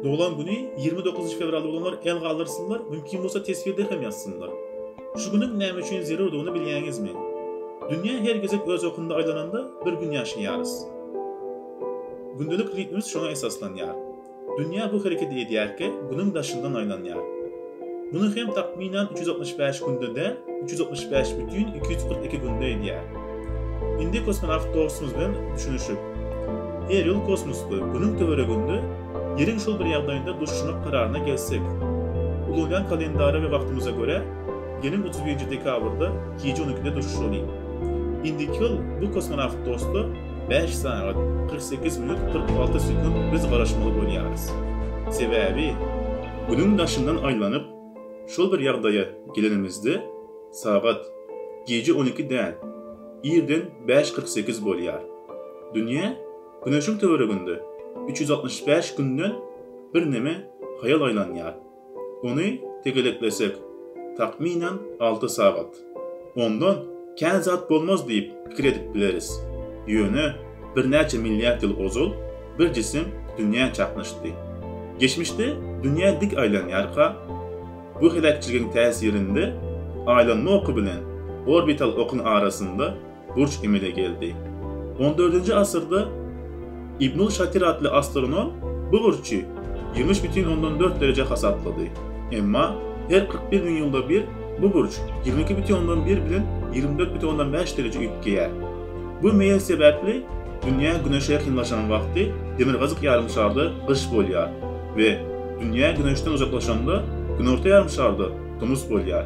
Doglan güni ýigrimi dokuzynjy fewral bolanlar el galdyrsynlar, mümkin bolsa teswirde hem ýazsynlar. Şu günüň näme üçin zerurdygyny bilýäňizmi? Dünýä her gezek öz okunda aýlananda bir gün ýaşaýarys. Gündelik ritmimiz şoňa esaslanýar. Dünýä bu hereketi edýärkä, günüň daşyndan aýlanýar. Muny hem takmynan üç ýüz altmyş bäş günde däl, üç ýüz altmyş bäş bütin iki ýüz kyrk iki günde edýär. Indi kosmonawt dostumyz bilen düşünişip, her ýyl kosmosda, Günüň töwereginde Ýeriň şol bir ýagdaýynda duşuşmak kararyna gelsek. Ulanýan kalendara we wagtymyza görä, geliň otuz birinji dekabrda gije on ikide duşuşalyň. Indiki ýyl bu kosmonawt dosta bäş sagat, kyrk sekiz minut, kyrk alty sekunt biz garaşmaly bolýarys. Sebäbi. Günüň daşyndan aýlanyp, şol bir ýagdaýa gelenimizde, sagat gije on iki däl, irden bäş kyrk sekiz bolýar. Dünýä Güneşiň töwereginde üç ýüz altmyş bäş günden birneme haýal aýlanýar. Ony tegeleklesek, takmynan alty sagat. Onda kän zat bolmaz diýip pikir edip bileris. Ýöne birnäçe milliard ýyl ozal bir jisim dünýä çaknyşdy. Geçmişde dünýä dik aýlanýarka, bu heläkçiligiň täsirinde aýlanma oky bilen orbital okuň arasynda burç emele geldi. On dördünji asyrda Ibnul Şatir atly astronom bu burçy ýimiş bütin ondan dört dereje hasaplady. Emma her kyrk bir müň ýylda bir bu burç ýigrimi iki bütin ondan bir bilen ýigrimi dört bütin ondan bäş dereje üýtgeýär. Bu meýil sebäpli dünýä Güneşe ýakynlaşan wagty demirgazyk ýarym şarda gyş bolýar we dünýä Güneşden uzaklaşanda günorta ýarym şarda tomus bolýar.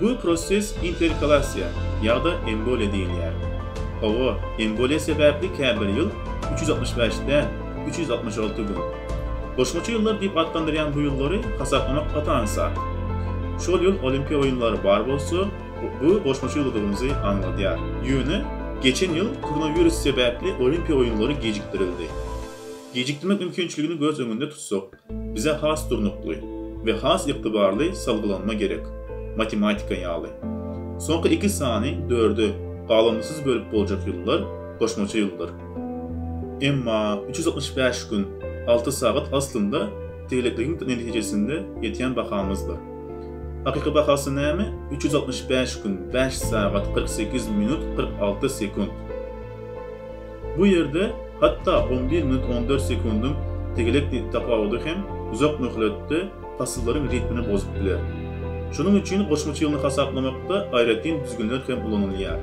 Bu proses interkalasiýa ýa-da emboliýa diýilýär. Hawa, emboliýa sebäpli käbir ýyl üç ýüz altmyş bäş däl, üç ýüz altmyş alty gün. Goşmaça ýyllar diýip atlandyrýan bu ýyllary hasaplamak gaty aňsat. Şol ýyl Olimpiýa oýunlary bar bolsa, bu goşmaça ýylydygymyzy aňladýar. Ýöne geçen ýyl koronawirus sebäpli Olimpiýa oýunlary gijikdirildi. Gijikdirmek mümkinçiligini göz öňünde tutsak, Bize has durnukly we has ygtybarly salgylanma gerek, matematika ýaly. Soňky iki sany dörde galanmysyz bölüp boljak ýyllar goşmaça ýyldyr. Emma üç ýüz altmyş bäş gün, alty sagat aslynda tegelekligiň netijesinde ýetýän bahamyzdyr. Hakyky bahasy näme? Üç ýüz altmyş bäş gün, bäş sagat, kyrk sekiz minut, kyrk alty sekunt. Bu ýerde hatda on bir minut on dört sekundyň tegelekdek tapawudy hem uzak möhletde pasyllaryň ritmini bozup biler. Şonuň üçin goşmaça ýylyny hasaplamakda aýratyn düzgünler hem ulanylýar.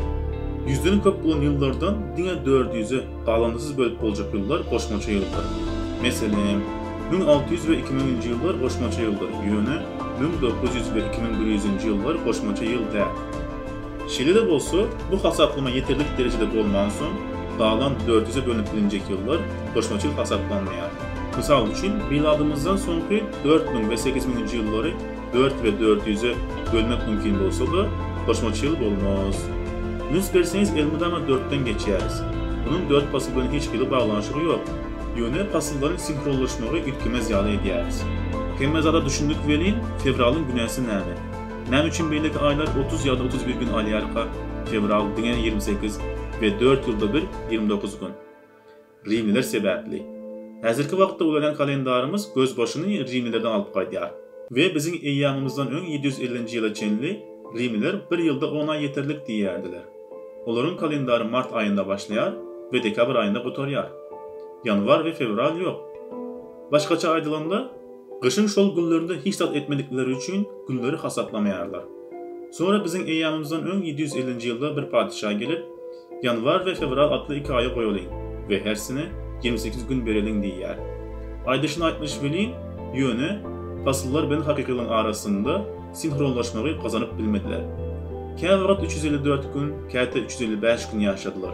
Ýüzden köp bolan ýyllardan diňe dört ýüze galandysyz bölüp boljak ýyllar goşmaça ýyldyr. Meselem, müň alty ýüz we iki müňünji ýyllar goşmaça ýyldyr, ýöne müň dokuz ýüz we iki müň bir ýüzünji ýyllar goşmaça ýyl däl. Şeýle-de bolsa, bu hasaplama ýeterlik derejede bolmansoň, galan dört ýüze bölünip bilinjek ýyllar goşmaça ýyl hasaplanmaýar. Mysal üçin, miladymyzdan soňky dört müň we sekiz müňünji ýyllary dört we dört ýüze bölmek mümkin bolsa-da, goşmaça ýyl bolmaz. Üns berseňiz, elmydama dörtden geçýäris. Munuň dört pasyl bilen hiç hili baglanyşygy ýok. Ýöne pasyllaryň sinhronlaşmagy üýtgemez ýaly edýäris. Hemme zada düşündik welin, fewralyň günäsi näme? Näme üçin beýleki aýlar otuz ýa-da otuz bir gün alýarka, fewral diňe ýigrimi sekiz we dört ýylda bir ýigrimi dokuz gün? Rimliler sebäpli. Häzirki wagtda ulanýan kalendarymyz gözbaşyny rimlilerden alyp gaýdýar. We biziň eýýamymyzdan öň ýedi ýüz ellinji ýyla çenli rimliler bir ýylda on aý ýeterlik diýýärdiler. Olaryň kalendary mart aýynda başlaýar we dekabr aýynda gutarýar. Ýanwar we fewral ýok. Başgaça aýdylanda, Gyşyň şol günlerinde hiç zat etmedikleri üçin günleri hasaplamaýarlar. Soňra biziň eýýamymyzdan öň ýedi ýüz ellinji ýylda bir patyşa gelip, Ýanwar we fewral atly iki aýy goýalyň we hersine ýigrimi sekiz gün bereliň diýýär. Aýdyşyn aýtmyş welin, ýöne, pasyllar bilen hakykylygyň arasynda sinhronlaşmagy gazanyp bilmediler. Käwagt üç ýüz elli dört gün, käte üç ýüz elli bäş gün ýaşadylar.